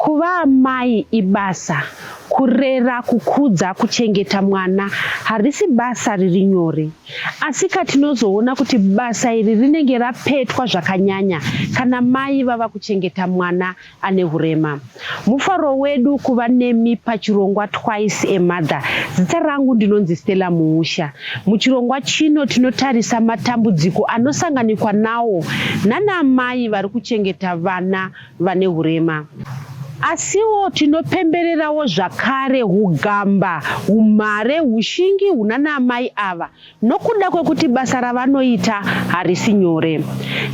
Kuva amai ibasa kurera kukudza kuchengeta mwana harisi basa riri nyore asika tinozoona kuti basa iri rinenge rapetwa zvakanyanya kana mai vava kuchengeta mwana ane hurema. Mufaro wedu kuva nemi pachirongwa Twice a Mother. Zita rangu ndinonzi Stella Muusha. Muchirongwa chino tinotarisa matambudziko anosanganikwa nawo nana amai vari kuchengeta vana vane hurema. Asiwo tinopembererawo zvakare hugamba, humhare, hushingi hunana amai ava Nokuda kwekuti basa ravanoita harisi nyore,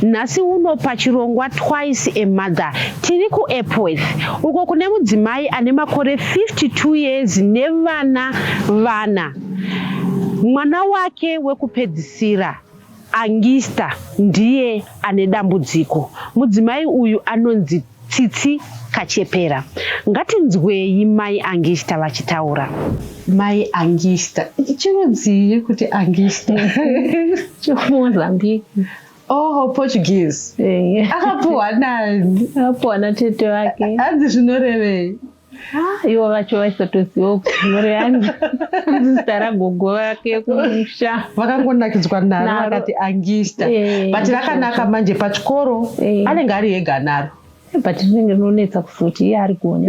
nhasi uno pachirongwa Twice a Mother tiri kuEpworth uko kune mudzimai ane makore 52 years nevana vana. Mwana wake wekupedzisira Angista ndiye ane dambudziko. Mudzimai uyu anonzi Tsitsi kachepera. Ngatinzweyi mai Angista vachitaura. Mai Angista. Chirudzii kuti Angista? Chomozambique. Oh, Portuguese. Akapuhwa nani? Akapuhwa natete wake. Hanzi zvinorevei? Ah, ivo vacho vaisotoziva kuti mhuri yangu zita ragogo vake kumusha vakangonakidzwa naro Naro. vakati angista Eh, but rakanaka manje pachikoro Eh. anenge ari ega naro but rinenge rinonetsa kufuti iye ari kuone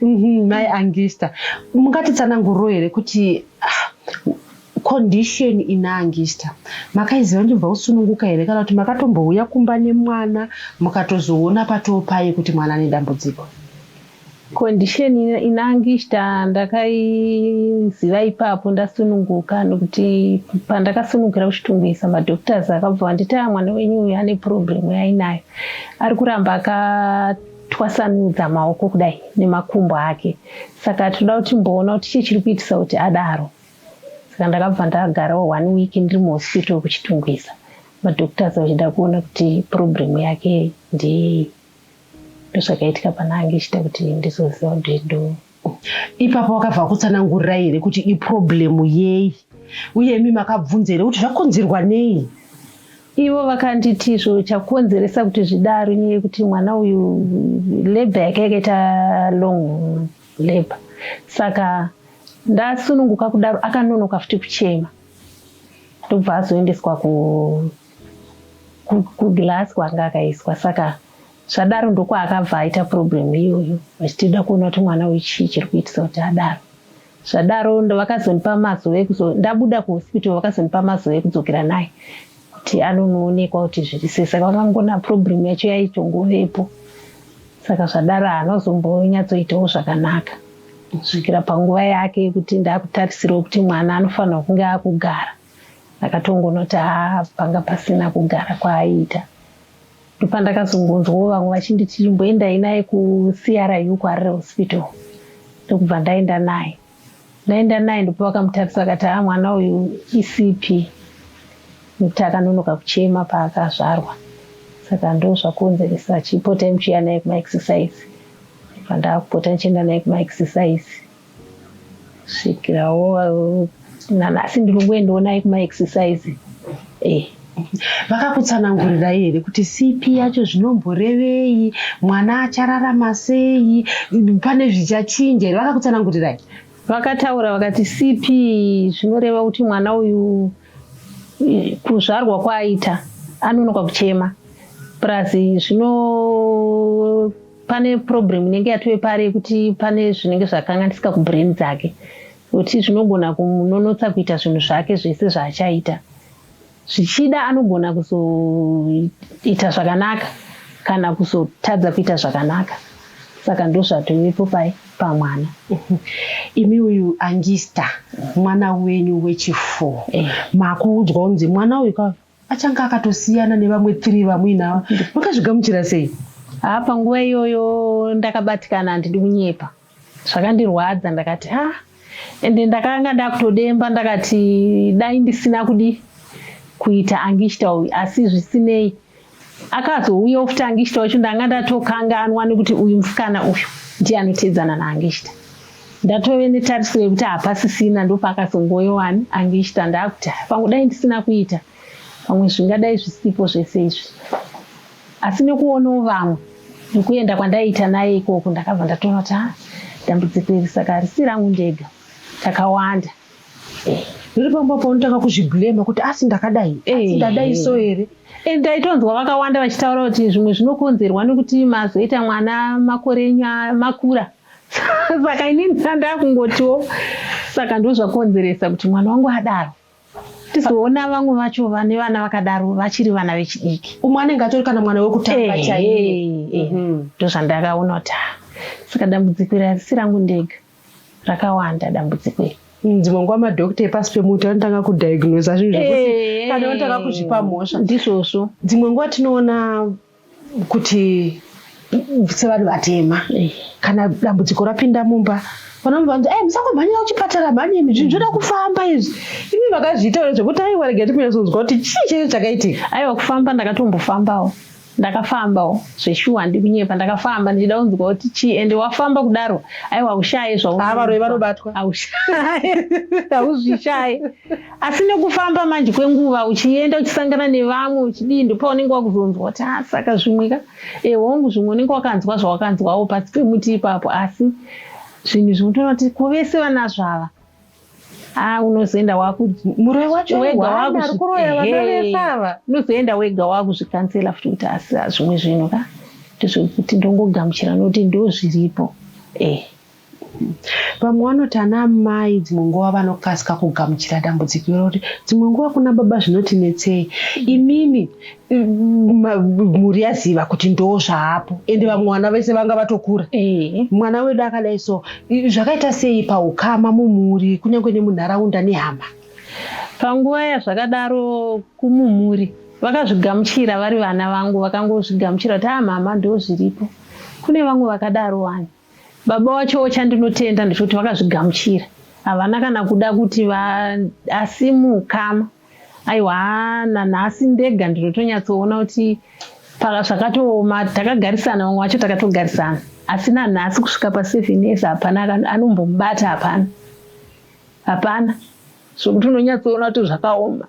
Mhm, mai angista mungatitsananguriro here kuti ah, condition inaangista makaiziva ndimbva kusununguka here kana kuti makatombouya kumba nemwana mukatozoona patoo paye kuti mwana ane dambudziko condition inaangista ndakaiziva ipapo ndasununguka nokuti pandakasunungukira kuchitungwisa madoctors akabva vanditaya mwana wenyu uyu ane problem yainayo ari kuramba akatwasanudza maoko kudai nemakumbo ake saka tinoda kuti mboona kuti chii chiri kuitisa kuti adaro saka ndakabva ndagarawo one week ndiri muhospital kuchitungwiza madoctors vachida kuona kuti problem yake ndeyei ndozvakaitika pana ange ichida kuti ndizoziva kutindo ipapo wakabva kutsanangurira here kuti iproblem yei uye imi makabvunza here kuti zvakonzerwa nei ivo vakanditi zvo chakonzeresa kuti zvidaro nyaya yekuti mwana uyu labor yake yakaita long labour saka ndasununguka kudaro akanonoka futi kuchema ndobva azoendeswa ku kuglass kwanga akaiswa saka zvadaro ndokwaakabva aita problem iyoyo vachitida kuona kuti mwana uyu chii chiri kuitisa kuti adaro zvadaro vakazondipa mazuva ekuzo ndabuda kuhospital vakazondipa mazuva ekudzokera naye kuti anonoonekwa kuti zviri sei saka vakangona problem yacho yaitongovepo saka zvadaro haanozombonyatsoitawo zvakanaka kusvikira panguva yake yekuti ndakutarisirwa kuti mwana anofanirwa kunge akugara ndakatongonoti haa panga pasina kugara kwaaiita ndopandakazongonzwawo vamwe vachinditi chimboendai naye kucru kwarire hospital ndokubva ndaenda naye Ndaenda naye ndipo vakamutarisa akati haa mwana uyu isipi nekuti akanonoka kuchema paakazvarwa saka ndo zvakonzeresa achipotai muchiya naye kumaexercise pandakupota ndichienda naye kumaexercise svikirawo nanhasi ndiri kungoendawo naye kumaexercise eh. vakakutsanangurirai here kuti cp yacho zvinomborevei mwana achararama sei pane zvichachinja here vakakutsanangurirai vakataura vakati cp zvinoreva kuti mwana uyu kuzvarwa kwaaita anonoka kuchema plus zvino pane problem inenge yatove pari yekuti pane zvinenge zvakanganisika kubrain dzake kuti zvinogona kumunonotsa kuita zvinhu zvake zvese zvaachaita Zvichida anogona kuzoita zvakanaka kana kuzotadza kuita zvakanaka saka ndozvatovepo pai pamwana imi uyu angista mwana wenyu wechifo eh. makuudzwa unzi mwana uyu ka achanga akatosiyana nevamwe three vamuinavo makazvigamuchira sei haa panguva iyoyo ndakabatikana handidi kunyepa zvakandirwadza ndakati ha ende ndakanga ndakutodemba ndakati dai ndisina kudi kuita angishta uyu asi zvisinei akazouya ofuti angishta wacho ndanga ndatokanganwa nekuti uyu musikana uyu ndiye anoteedzana naangishta ndatove netariso yekuti hapasisina ndopaakazongoyowani angishta ndakuti pamwe dai ndisina kuita pamwe zvingadai zvisipo zvese izvi asi nekuonawo vamwe nekuenda kwandaiita naye ikoko ndakabva ndatoona kuti ah, dambudziko iri saka harisi rangu ndega takawanda eh, riri pamba paunotanga kuzviblema kuti asi ndakadai asi eh. ndadai so here and taitonzwa vakawanda vachitaura kuti zvimwe zvinokonzerwa nekuti mazoita mwana makore enyu makura saka inini ndandakungotiwo saka ndozvakonzeresa kuti mwana wangu adaro tizoona vamwe vacho vane vana vakadaro vachiri vana vechidiki umwe anenge atori kana mwana wekutanga eh, chaiye eh, mhm. ndozvandakaona kuti ah, saka dambudziko iri harisi rangu ndega rakawanda dambudziko iri mm, dzimwe nguva madokta epasi pemuti anotanga kudiagnosa zvinhu zvekuti eh, kana otanga kuzvipa mhosva ndizvozvo dzimwe nguva tinoona kuti sevanhu vatema eh. kana dambudziko rapinda mumba vanobva vanzi ai eh, musangomhanyira kuchipatara mhanye imi zvinhu zvoda kufamba izvi imi vakazviitaura zvekuti aiwa rega tikunyatsonzwa kuti chii chaicho chakaitika aiwa kufamba ndakatombofambawo ndakafambawo zveshuwa handi kunyepa ndakafamba ndichida kunzwa kuti chii ende wafamba kudaro aiwa haushaye zvaavaroyi vanobatwa haushaye hauzvishaye asi nekufamba manje kwenguva uchienda uchisangana nevamwe uchidii ndipo unenge wakuzonzwa kuti a ah, saka zvimwe ka e hongu zvimwe unenge wakanzwa zvawakanzwawo pasi pemuti ipapo asi zvinhu zvimwe toona kuti ko vese vanazvo ava a ah, unozoenda wakumuroi wacho wega wakuroyavaavesava unozoenda wega wakuzvikansela futi kuti asi ah, zvimwe zvinhu ka ndezvekuti ndongogamuchira nokuti ndozviripo e eh. Vamwe vanoti ana amai dzimwe nguva vanokasika kugamuchira dambudziko iro kuti dzimwe nguva kuna baba zvinoti netsei imimi mhuri yaziva kuti ndoo zvaapo ende vamwe vana vese vanga vatokura eh. mwana wedu akadai so zvakaita sei paukama mumhuri kunyange nemunharaunda nehama panguva yazvakadaro kumumhuri vakazvigamuchira vari vana vangu vakangozvigamuchira kuti aa ah, mama ndoo zviripo kune vamwe vakadaro wani Baba wacho chandinotenda ndechekuti vakazvigamuchira havana kana kuda kuti vaasimuka aiwa nanhasi ndega ndinotonyatsoona kuti zvakatooma takagarisana vamwe vacho takatogarisana asi nanhasi kusvika paseven years hapana anombomubata hapana hapana zvokuti unonyatsoona kuti zvakaoma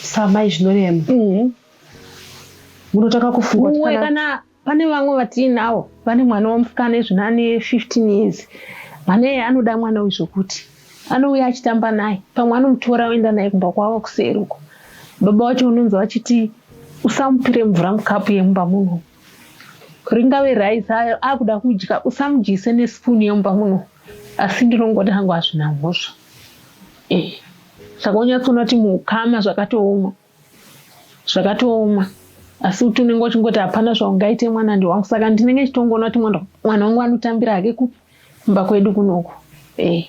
samai zvinorema mm-hmm. munotanga kufunga kana Pane vamwe vatiinawo vane mwana wemusikana izvino ane 15 years. Mwana iye anoda mwana uyu zvokuti anouya achitamba naye, pamwe anomutora oenda naye kumba kwavo kuseri uko. Baba wacho unonzi vachiti usamupire mvura mukapu yemumba muno, ringave rice ayo akuda kudya, usamudyise nesipuni yemumba muno. Asi ndinongoti hangu hazvina mhosva, eh, saka unyatsoona kuti muukama zvakatooma. zvakatooma asi kuti unenge uchingoti hapana zvaungaite mwana ndi wangu saka ndinenge chitongoona kuti mwana wangu anotambira hake kupi kumba kwedu kunoku eh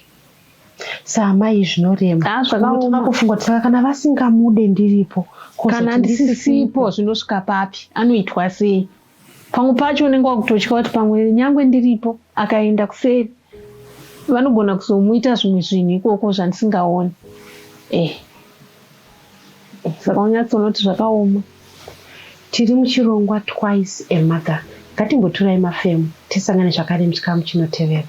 saamai zvinorema ah, zvakaoma kufunga kuti saka kana vasingamude ndiripo kana ndisisipo zvinosvika papi anoitwa sei Pamwe pacho unenge wakutotya kuti pamwe nyangwe ndiripo akaenda kuseri vanogona kuzomuita zvimwe zvinhu ikoko zvandisingaoni eh. eh saka unyatsonoti zvakaoma tiri muchirongwa twice a mother ngatimboturai mafemo tisangane zvakare muchikamu chinotevera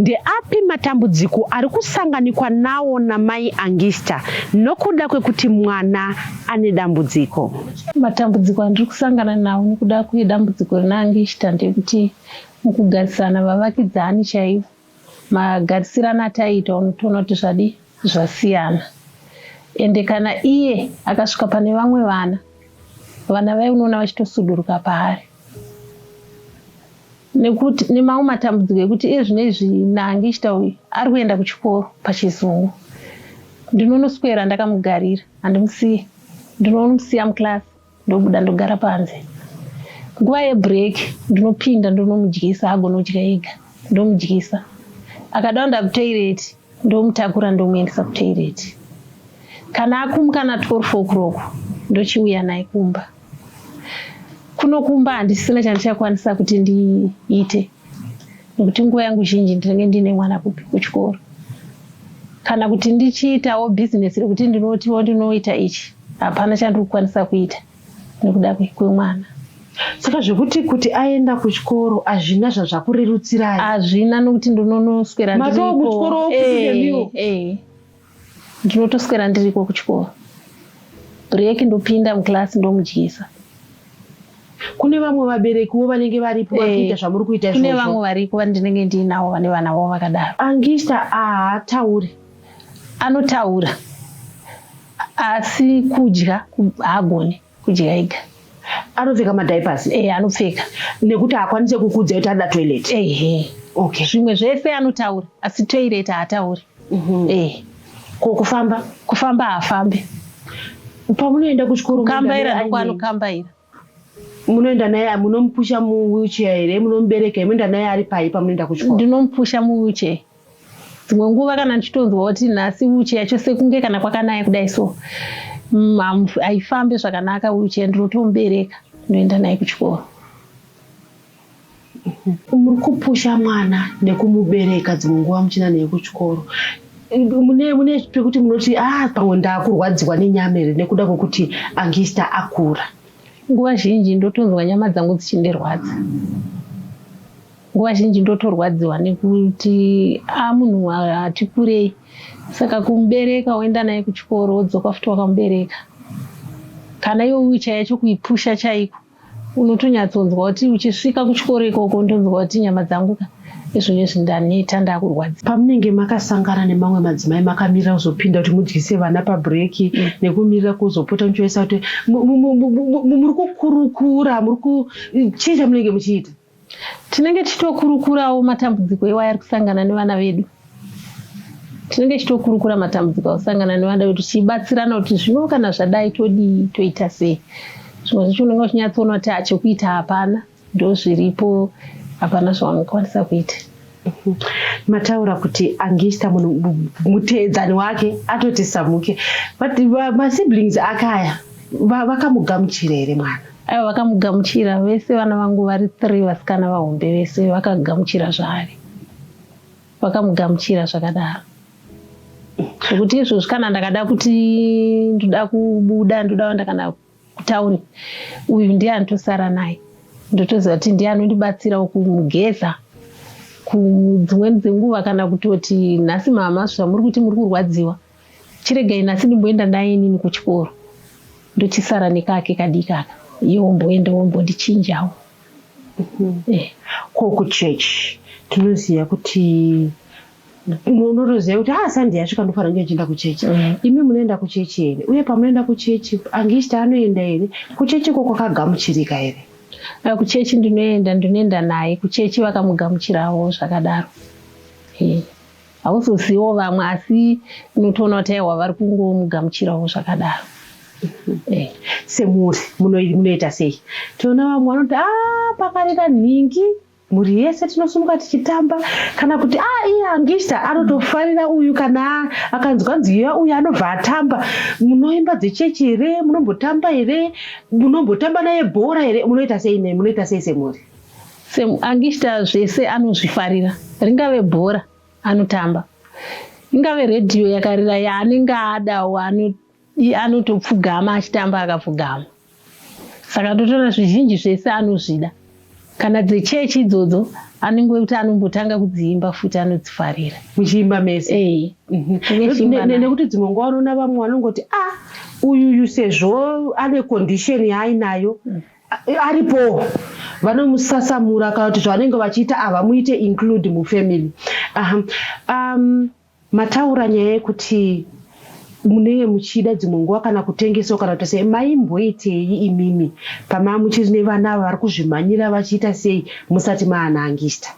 Ndeapi matambudziko ari kusanganikwa nawo namai Angista nokuda kwekuti mwana ane dambudziko? Matambudziko andiri kusangana nawo nokuda kwedambudziko rina Angista ndekuti mukugarisana vavakidzani chaivo, magarisirana ataiita unotoona kuti zvadii zvasiyana. Ende kana iye akasvika pane vamwe vana, vana vaye unoona vachitosuduruka paari. nekuti nemamwe matambudziko ekuti iye zvino izvi nange ichita uyu ari kuenda kuchikoro pachizungu ndinonoswera ndakamugarira handimusiye ndinonomusiya muklasi ndobuda ndogara panze nguva yebreak ndinopinda ndonomudyisa agone kudya ega ndomudyisa akadawo ndakutoireti ndomutakura ndomuendesa kutoilet kana akumuka na 12 o'clock ndochiuya naye kumba kuno kumba handisina chandichakwanisa kuti ndiite nekuti nguva yangu zhinji ndinenge ndiine mwana kupi kuchikoro kana kuti ndichiitawo bhizinesi rekuti ndinotiwo ndinoita ichi hapana chandiri kukwanisa kuita nekuda kwemwana saka zvekuti kuti aenda kuchikoro hazvina zvazvakurerutsirai hazvina nokuti ndinonoswera matokuchikoro eh, eh. ndinotoswera ndiriko kuchikoro break ndopinda muclass ndomudyisa kune vamwe vaberekiwo vanenge varipo eh, vakuita zvamuri kuita kune vamwe variko vandinenge ndiinawo vane vana vavo vakadaro angista ahatauri anotaura asi kudya haagone kudya ega anopfeka madiapers e eh, anopfeka nekuti haakwanise kukudza kuti anoda toilet ehe okay zvimwe zvese anotaura asi toilet haatauri mhm. e eh. ko kufamba kufamba haafambi pamunoenda kuchikoro kambaira ndokwanokambaira Munoenda naye munomupusha mu wheelchair here munomubereka here munoenda naye ari pai pamunoenda kuchikoro? Ndinomupusha mu wheelchair. Dzimwe nguva kana ndichitonzwa kuti nhasi wheelchair yacho sekunge kana kwakanaya kudai so mm, haifambe zvakanaka wheelchair ndinotomubereka ndoenda naye kuchikoro. Muri kupusha mwana nekumubereka dzimwe nguva muchina neye kuchikoro mune mune pekuti munoti ah pamwe ndakurwadziwa nenyama here nekuda kwekuti angista akura nguva zhinji ndotonzwa nyama dzangu dzichindirwadza nguva zhinji ndotorwadziwa nekuti a ah, munhu hati kurei saka kumubereka woenda naye kuchikoro wodzoka futi wakamubereka kana iwe uichaya chokuipusha chaiko unotonyatsonzwa kuti uchisvika kuchikoro ikoko ndonzwa kuti nyama dzangu ka izvo nezvi ndaneta ndakurwadza pamunenge makasangana nemamwe madzimai makamirira kuzopinda kuti mudyise vana pabreaki mm. nekumirira kuzopota muchivaisa kuti muri kukurukura muri kuchinja munenge muchiita Tinenge tichitokurukurawo matambudziko iwayo ari kusangana nevana vedu. Tinenge tichitokurukura matambudziko akusangana nevana vedu tichibatsirana kuti zvino kana zvadai todii toita sei. Zvimwe zvacho unenge uchinyatsoona kuti chekuita hapana ndozviripo hapana zvaunokwanisa kuita. mataura kuti angista munhu muteedzani wake atoti samuke but masiblings ake aya vakamugamuchira here mwana aiwa vakamugamuchira vese vana vangu vari three vasikana vahombe vese vakagamuchira zvaari vakamugamuchira zvakadaro zvekuti izvozvi kana ndakada kuti ndoda kubuda ndoda ndakana Kutaure uyu ndiye anotosara naye ndotoziva kuti ndiye anondibatsirawo kumugeza kudzimweni dzenguva kana kutoti nhasi mama zvamuri kuti muri kurwadziwa chiregai nhasi ndimboenda naye inini kuchikoro ndochisara nekake kadikaka iye womboenda wombondichinjawo mhm. eh. ko kuchechi tinoziva kuti unotoziva kuti haa sandi yasvika ndofanira kunge ndichienda kuchechi mm. imi munoenda kuchechi here uye pamunoenda kuchechi angist anoenda here kuchechi ko kwakagamuchirika here eh, kuchechi ndinoenda ndinoenda naye kuchechi vakamugamuchirawo zvakadaro hauzozivo vamwe asi unotoona kuti aiwa vari kungomugamuchirawo zvakadaro Eh, semuri munoita sei toona vamwe vanoti a ah, pakarira nhingi mhuri yese tinosumuka tichitamba kana kuti a ah, iye angista anotofarira uyu kana akanzwa nziyo uyu anobva atamba munoimba dzechechi here munombotamba here munombotamba naye bhora here munoita sei nei munoita sei semhuri angista zvese anozvifarira ringave bhora anotamba ingave redhiyo yakarira yaanenge adawo iye anotopfugama achitamba akapfugama saka totoona zvizhinji zvese anozvida kana dzechechi idzodzo anenge wekuti anombotanga kudziimba futi anodzifarira muchiimba mese mhm. nekuti dzimwe nguva unoona vamwe vanongoti a ah, uyuyu sezvo ane condition yaainayo mm. aripo vanomusasamura kana kuti zvavanenge vachiita havamuite include mufamily um, Mataura nyaya yekuti munenge muchida dzimwe nguva kana kutengesawo kana kuita sei maimboitei imimi pamava muchiri nevana ava vari kuzvimhanyira vachiita sei musati maanangista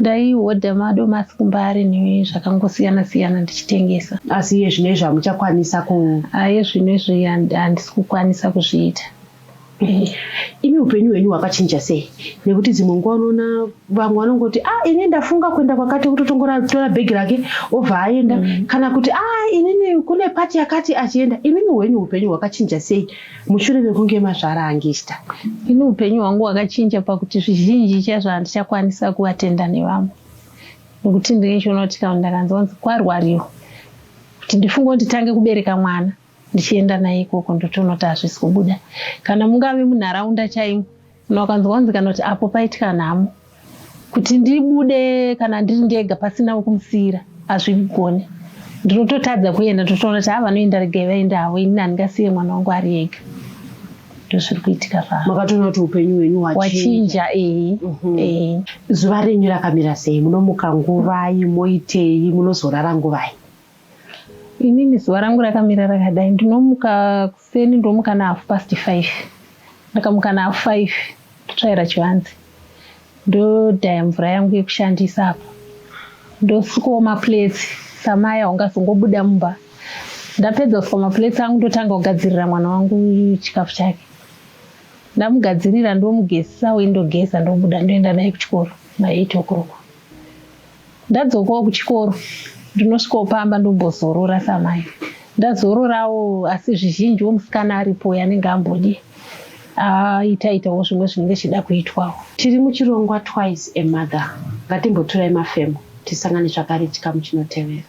ndaihodha madomasi kumba ari nezvakangosiyana siyana ndichitengesa asi iye zvino izvi hamuchakwanisa ku aye zvino izvi handisi kukwanisa kuzviita imi upenyu hwenyu hwakachinja sei nekuti dzimwe nguva unoona vamwe vanongoti a ah, ini ndafunga kuenda kwakati kutotongoratora bhegi rake obva aenda mm. kana kuti a ah, inini kune pati yakati achienda imimi hwenyu upenyu hwakachinja sei mushure mekunge mazvara angista ini upenyu hwangu hwakachinja pakuti zvizhinji chazvo handichakwanisa kuvatenda nevamwe nekuti ndinenge choona kuti kana ndakanzwanzi kwarwariwa kuti ndifunge kuti tange kubereka mwana ndichienda naye ikoko ndotoona kuti hazvisi kubuda kana mungave munharaunda chaimo kana ukanzwa kunzi kana kuti apo paitika nhamo kuti ndibude kana ndiri ndega pasina wekumusiira hazvigone ndinototadza kuenda ndotoona kuti havanoenda regai vaende havo ini handingasiye mwana wangu ari ega ndozviri kuitika pamakatoona kuti upenyu hwenyu hwachinja ehe mhm. ehe zuva renyu rakamira sei munomuka nguvai moitei munozorara nguvai Inini zuva rangu rakamira rakadai ndinomuka kuseni ndomuka nahafu past five ndakamuka nahafu five ndotsvaira chivanzi ndodhaya mvura yangu yekushandisa apo ndosukawo maplates samaya ungazongobuda mumba ndapedza kusuka maplates angu ndotanga kugadzirira mwana wangu chikafu chake ndamugadzirira ndomugezisa windogeza ndobuda ndoenda naye kuchikoro maeight o'clock Ndadzokawo kuchikoro ndinosvikawo pamba ndombozorora samai ndazororawo asi zvizhinji wo musikana aripo yanenge ambodi aitaitawo zvimwe zvinenge zvichida kuitwawo tiri muchirongwa twice a mother ngatimboturai mafemo tisangane zvakare chikamu chinotevera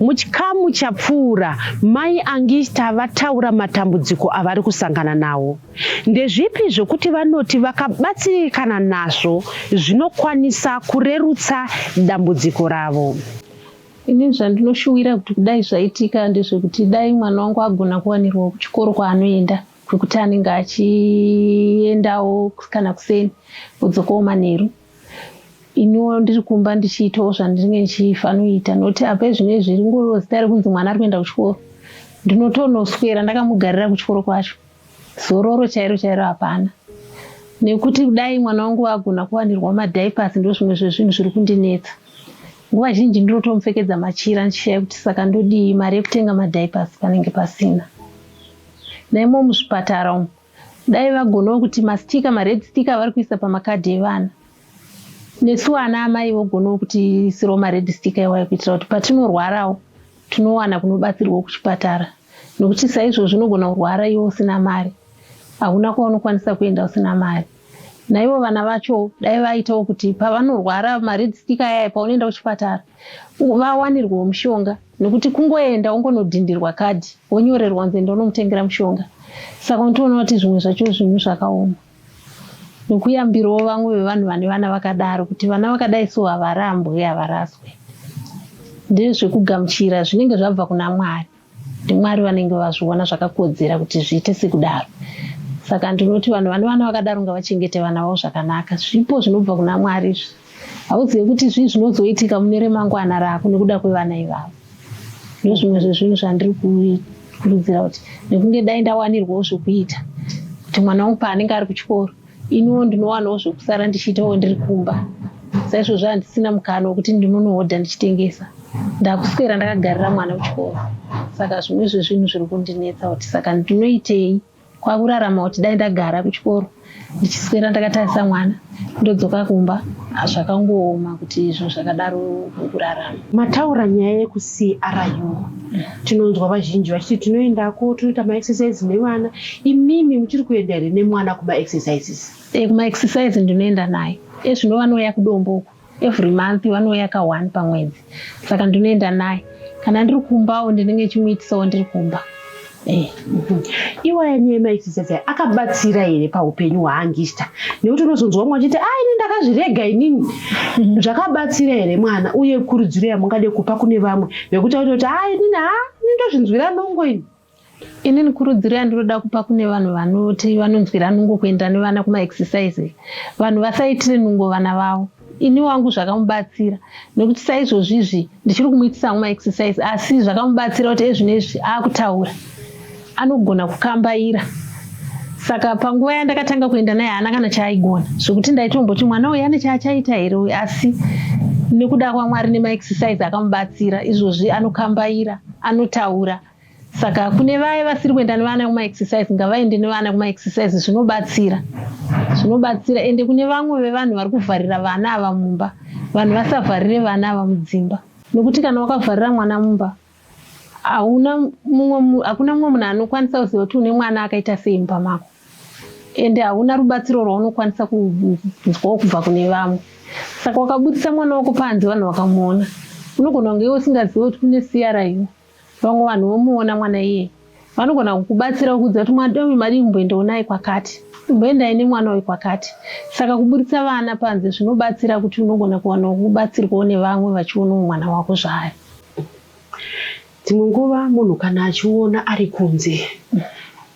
Muchikamu chapfuura, Mai Angista vataura matambudziko avari kusangana nawo. Ndezvipi zvokuti vanoti vakabatsirikana nazvo zvinokwanisa kurerutsa dambudziko ravo? Ini zvandinoshuwira kuti kudai zvaitika ndezvekuti dai mwana wangu agona kuwanirwa kuchikoro kwaanoenda kwekuti anenge achiendawo kana kuseni odzokawo manheru iniwo ndiri kumba ndichiitawo zvandinenge ndichifanoita noti apa zvinei zviri ngoriwo zita rekunzi mwana ari kuenda kuchikoro ndinotonoswera ndakamugarira kuchikoro kwacho zororo chairo chairo hapana nekuti kudai mwana wangu agona kuwanirwa madipas ndo zvimwe zvezvinhu zviri kundinetsa nguva zhinji ndinotomupfekedza machira ndichishaya kuti saka ndodii mari yekutenga madipas panenge pasina naimo muzvipatara umu Dai vagonawo kuti mastika mared stick avari kuisa pamakadhi evana nesu vana amai vogonawo kuti isirawo mared stick iwayo kuitira kuti patinorwarawo tinowana kunobatsirwa kuchipatara nokuti saizvo zvinogona kurwara iwo usina mari hauna kwaunokwanisa kuenda usina mari naivo vana vacho dai vaitawo kuti pavanorwara mared sticker yaya paunoenda kuchipatara vawanirwawo mushonga nekuti kungoenda wongonodhindirwa kadhi wonyorerwa nzi enda unomutengera mushonga saka unotoona kuti zvimwe zvacho zvinhu zvakaoma nekuyambirawo vamwe vevanhu vane vana vakadaro kuti vana vakadai so havarambwe havaraswe ndezvekugamuchira zvinenge zvabva kuna mwari ndiMwari vanenge vazviona zvakakodzera kuti zviite sekudaro. Saka ndinoti vanhu vane vana vakadaro ngavachengete vana vavo zvakanaka. Zvipo zvinobva kuna Mwari izvi. Hauzive kuti zvii zvinozoitika mune remangwana rako nekuda kwevana ivavo. Ndozvimwe zvezvinhu zvandiri kukurudzira kuti nekunge dai ndawanirwawo zvekuita kuti mwana wangu paanenge ari kuchikoro iniwo ndinowanawo zvekusara ndichiitawo ndiri kumba saizvozvo handisina mukana wekuti ndinonohodha ndichitengesa ndakuswera ndakagarira mwana kuchikoro saka zvimwe zvezvinhu zviri kundinetsa kuti saka ndinoitei kwakurarama kuti dai ndagara kuchikoro ndichiswera ndakatarisa mwana ndodzoka kumba hazvakangooma kuti izvo zvakadaro kurarama mataura nyaya yekucru tinonzwa vazhinji vachiti tinoendako tinoita maexercise nevana imimi muchiri kuenda here nemwana kumaexercises e, kumaexercise ndinoenda naye ezvino vanouya kudombo uku every month vanouya ka one pamwedzi saka ndinoenda naye kana ndiri kumbawo ndinenge chimuitisawo ndiri kumba Eh, mhm. iwaya nyaya maisisese akabatsira here paupenyu hwaangista nekuti unozonzwa mumwe achiti a ini ndakazvirega inini mhm. zvakabatsira here mwana uye kurudziro yamungade kupa kune vamwe vekuta kuti kuti a inini ha ini ndozvinzwira nongo ini inini kurudziro yandinoda kupa kune vanhu vanoti vanonzwira nungo kuenda nevana kumaexercise vanhu vasaitire nungo vana vavo ini wangu zvakamubatsira nekuti saizvozvi izvi ndichiri kumuitisa ma exercise asi zvakamubatsira kuti ezvino izvi akutaura anogona kukambaira saka panguva yandakatanga kuenda naye haana kana chaaigona zvekuti ndaitomboti mwana uyu ane chaachaita here uyu asi nekuda kwamwari nemaexercise akamubatsira izvozvi anokambaira anotaura saka kune vaye vasiri kuenda nevana kumaexercise ngavaende nevana kumaexercise zvinobatsira zvinobatsira ende kune vamwe vevanhu vari kuvharira vana ava mumba vanhu vasavharire vana ava mudzimba nokuti kana wakavharira mwana mumba hauna mumwe hakuna mumwe munhu anokwanisa kuziva kuti une mwana akaita sei mumba mako ende hauna rubatsiro rwaunokwanisa kunzwawo kubva kune vamwe saka wakabudisa mwana wako panze vanhu vakamuona unogona kunge iwe usingazive kuti kune siyara iwe Vamwe vanhu vomuona mwana iye vanogona kukubatsira kuudza kuti mwana uyu madii kumboendawo naye kwakati, kumboendai nemwana uyu kwakati. Saka kuburitsa vana panze zvinobatsira kuti unogona kuwana kubatsirwawo nevamwe vachionawo mwana wako zvayo. Dzimwe nguva munhu kana achiona ari kunze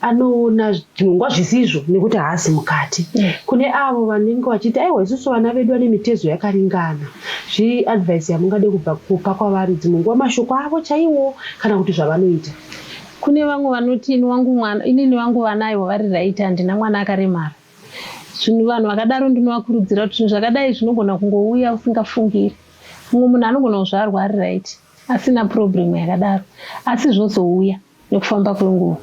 anoona zvinongwa zvisizvo nekuti haasi mukati mm. kune avo vanenge vachiti aiwa isusu vana vedu vane mitezo yakaringana zvii advice yamungade kubva kupa kwavari dzimwe nguva mashoko avo chaiwo kana kuti zvavanoita kune vamwe vanoti ini wangu mwana inini vangu vana aiwa vari right handina mwana akaremara zvinhu vanhu vakadaro ndinovakurudzira kuti zvinhu zvakadai zvinogona kungouya usingafungiri mumwe munhu anogona kuzvarwa ari right asina purobhuremu yakadaro asi zvozouya nekufamba kwenguva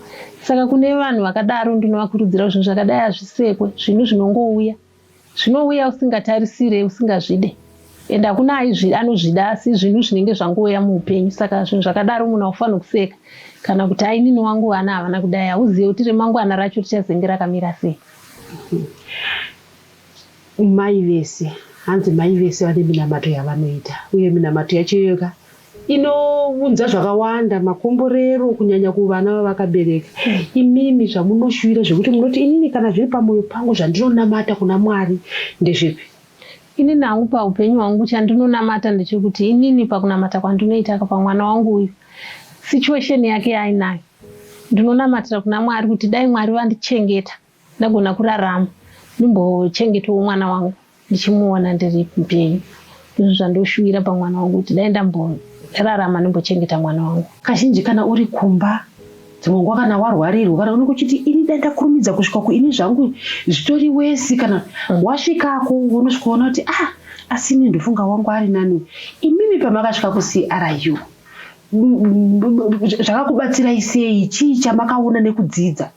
saka kune vanhu vakadaro ndinovakurudzira zvinhu zvakadai hazvisekwe zvinhu zvinongouya zvinouya usingatarisire usingazvide and hakuna aizvi anozvida asi zvinhu zvinenge zvangouya muupenyu saka zvinhu zvakadaro munhu aufanira kuseka kana kuti ainini wangu vana havana kudai hauzive kuti remangwana racho richazenge rakamira sei mai vese hanzi mai vese vane minamato yavanoita uye minamato yacho iyoyoka inounza zvakawanda makomborero kunyanya kuvana vavakabereka imimi zvamunoshuvira zvekuti munoti inini kana zviri pamwoyo pangu zvandinonamata kuna mwari ndezvepi ini nangu paupenyu hwangu chandinonamata ndechekuti inini pakunamata kwandinoitaka pamwana wangu uyu situation yake yaainayo ndinonamatira kuna mwari kuti dai mwari vandichengeta ndagona kurarama ndimbochengetawo mwana wangu ndichimuona ndiri mupenyu izvo zvandoshuvira pamwana wangu kuti dai ndamborarama ndimbochengeta mwana wangu kazhinji kana uri kumba dzimwe nguva kana warwarirwa kana unenge uchiti ini dai ndakurumidza kusvika ku ini zvangu zvitori wesi kana mm. wasvikako unosvika ona kuti ah asi ini ndofunga wangu ari nani imimi pamakasvika kucru zvakakubatsirai sei chii chamakaona nekudzidza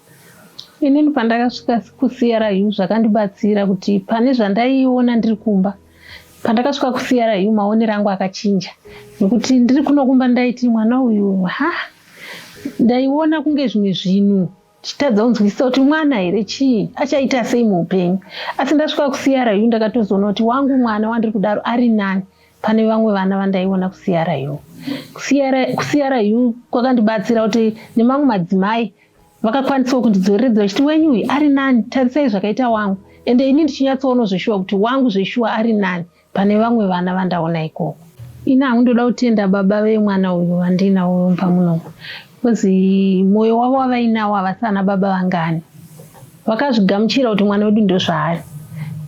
inini pandakasvika kucru zvakandibatsira kuti pane zvandaiona ndiri kumba pandakasvika kucru maonero angu akachinja nekuti ndiri kunokumba ndaiti mwana uyu ha ndaiona kunge zvimwe zvinhu chitadza kunzwisisa kuti mwana here chii achaita sei muupenyu asi ndasvika kusiyarayu ndakatozoona kuti wangu mwana wandiri kudaro ari nani pane vamwe vana vandaiona kusiyarayu kusiyarayu kwakandibatsira kuti nemamwe madzimai vakakwanisawo kundidzoreredza vachiti wenyu uyu ari nani tarisai zvakaita wangu ende ini ndichinyatsoono zveshuwa kuti wangu zveshuwa ari nani Pane vamwe vana vandaona ikoko. Ini hangu ndoda kutenda baba vemwana uyu vandiinawo mumba muno because moyo wavo wavainawo havasi ana baba vangani vakazvigamuchira kuti mwana wedu ndozvaari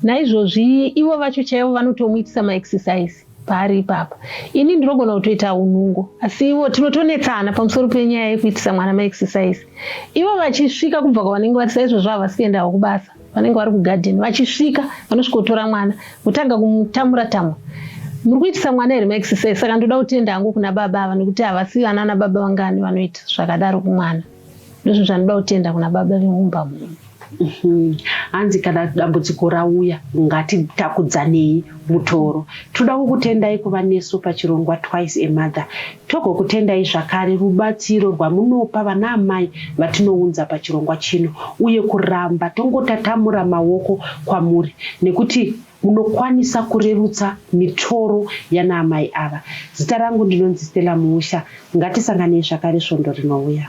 naizvozvi ivo vacho chaivo vanotomuitisa maexercise paari ipapa ini ndinogona kutoita unungo asi ivo tinotonetsana pamusoro penyaya yekuitisa mwana maexercise ivo vachisvika kubva kwavanenge vatisa izvozvo havasi kuendawo kubasa vanenge vari kugadheni vachisvika vanosvikotora mwana kutanga kumutamura tamwa muri kuitisa mwana here maexercise saka ndoda kutenda hangu kuna baba ava nekuti havasi vana ana baba vangani vanoita zvakadaro kumwana ndozvinhu zvanoda kutenda kuna baba vemumba muno mhm. hanzi kana dambudziko rauya ngatitakudzanei mutoro tinoda kukutendai kuva nesu pachirongwa twice amother Togokutendai zvakare rubatsiro rwamunopa vanaamai vatinounza pachirongwa chino uye kuramba tongotatamura maoko kwamuri nekuti munokwanisa kurerutsa mitoro yanaamai ava. Zita rangu ndinonzi Stella Muusha. Ngatisanganei zvakare svondo rinouya.